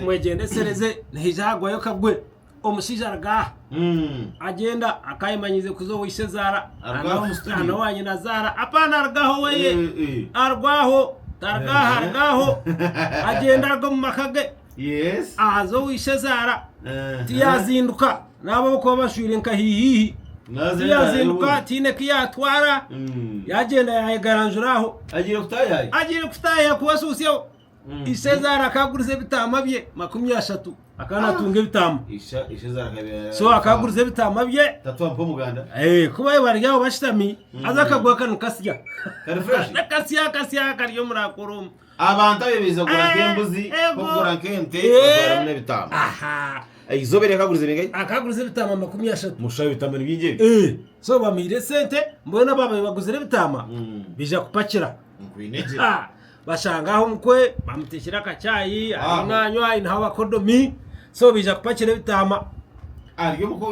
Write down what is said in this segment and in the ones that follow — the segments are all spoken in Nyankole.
Mwegyendesereze nihaija hagwayo kagwe. Omushaija aruga aha agyenda akaba ayemanyiize kuza ow'eishezaara na n'owanyinazaara. Apana aruga aha oweye. Aruga aho, taruga aha, aruga aho. Agyenda aruga omu maka ge aza ow'eishezaara. Tiyazinduka naaba abakuba bashwire nka hihihi. Tiyazinduka tihaine ku yaatwara. Yagyenda yaayegaranjura aho. Agiire kutaahi ahakuba ashuusyeho. Isheza arakaguriza ebitaama bye makumi ashatu akana atunga ebitaama so akaguriza ebitaama bye eh, kuba bari aho bashitami mm. aza akagwa kanu kasya kasya kasya kari omuri akoromu abantu abe baiza kugura eh, nk'embuzi kugura nk'ente eh. batwaramu n'ebitaama eizoba eri akaguriza ebingai akaguriza ebitaama makumi ashatu musha ebitaama ni bingi ebi so bamiire sente mbwenu ababaye baguzire ebitaama mm. bija kupakira nkwinegira Bashanga aho omukwe bamutekyire akacaayi ariyo nanywa aineho abakodomi so baija kupakira ebitaama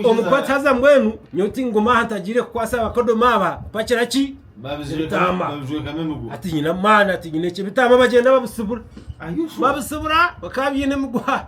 omukwe ati haza mbwenu nyowe tinguma aha ntagiire kukwasa abakodomi aba kupakira ki ebitaama ati nyine amaani ati nyine ki ebitaama bagyenda babisibura babisibura bakaba baine emiguha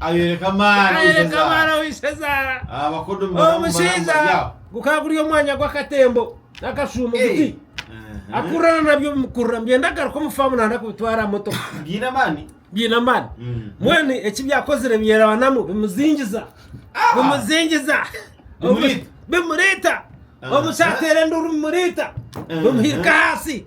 Ayoreka amaani ow'eishezaara. Omushaija gukaba guri omwanya gw'akatembo n'akashuumo guti akururana nabyo bimukurura nibyenda kugaruka omu faamu nanda kubitwara aha motoka. Biine amaani. Biine amaani. Mbwenu eki byakozire byerabanamu bimuzingiza. Bimuzingiza. Bimuriita. Bimuriita. Omushaija ateera enduuru bimuriita. Bimuhirika ahansi.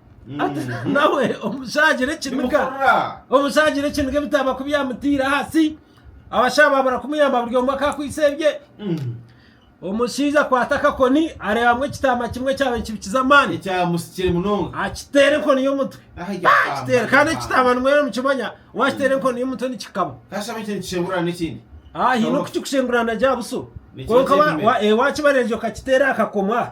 Ati, Mm. nawe omushagira ekiniga Nimukorra. omushagira ekiniga ebitaba kubyamutiire ahansi abashaija babura kumuyamba buri omwe akakwitse ebye Mm. omushaija akwata akakoni areebamu ekitaama kimwe ekyaba nikibikiza amaani ekyamusikire munonga akiteera enkoni y'omutwe Aha, ekyo Ah, kiteera kandi kitaama. ekitaama nimwera mukimanya wakiteera enkoni y'omutwe nikikaba kashaba ekyo nikishengura n'ekindi Ah, haine okukikushengurana gya buso Nikyo kwonka wa- kyenyine. wa- eh, wakibarengye okakiteera aha kakoma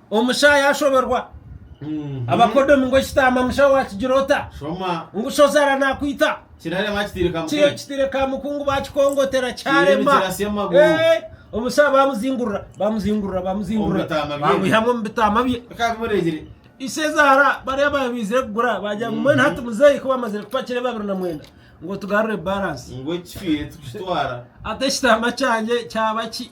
Omusha yaashoberwa abakodomi ngu ekitaama musha waakigira ota? Shoma. Ngu shozara naakwita. Kirarema kitiire ka Kiriyo mukungu. kitiire ka mukungu baakikongotera Kiriyo kyarema. nikirasya amaguru. Eh, Omusha baamuzingurira, baamuzingurira, baamuzingurira. Omu bitaama bye. Baamwihamu omu bitaama bye. Bikaba bimureegire. Ise zaara bariya abaabaire baizire kugura baagira ngu mbwenu hati muzeeyi ku baamazire kupakira ebi abiri na mwenda ngu otugarurire baransi. Ngu ekicwire tukitwara. Hati ekitaama kyangye kyaba ki?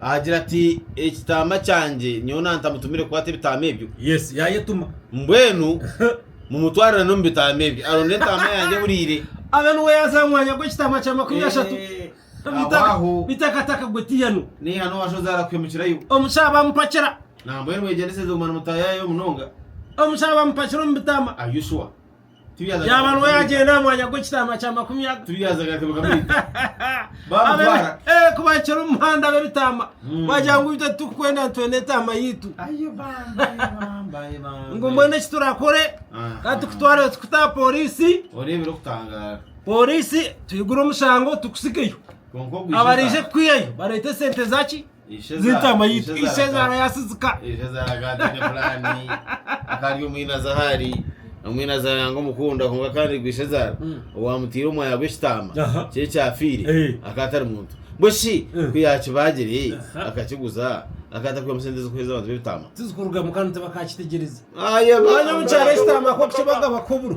Agira ati, Ekitaama kyangye nyowe nantamutumire kukwata ebitaama ebyo. Yes, yayetuma. Mbwenu mumutwarire n'omu bitaama ebyo aronde entaama yangye ehuriire. Abe niwe yaaza aha mwanya gw'ekitaama kya makumi ashatu. Beitu aho. Beitu akataka gwe tiihanu. Niihanu owashozi arakuhemukirayo. Omukyara baamupakira. Nambwenu mwegyendeseze guma nimutaayayo munonga. Omukyara baamupakira omu bitaama. Are you sure? Yaaba nuwe yaagyenda aha mwanya gw'ekitaama kya makumi kuba kiri omu muhanda ab'ebitaama hmm. baagira ngu itwe titukukwenda nitwenda etaama yaitu ngu mbwenu eki turakore ka tukutware tukuta aha pooriisi pooriisi tuigure omushango tukusigeyo abarije kukwihayo bareete esente zaki z'entaama yaitu ishezaara yasizika ishezaara akaba ataine puraani akaba ari omwinazi ahu ari omwinazi yanga omukunda kwonka kandi ogwo ishezaara owaamutaire omwaya gw'ekitaama kye ekyafiire akaba atari muntu mbwenu shi ku yaakibaagire akakiguza akaba atakwihamu sente z'okuheereza abantu b'ebitaama tizikurugamu kandi tibakakitegyereze omwanya omu kyaro ekitaama kw'okukibaga bakubura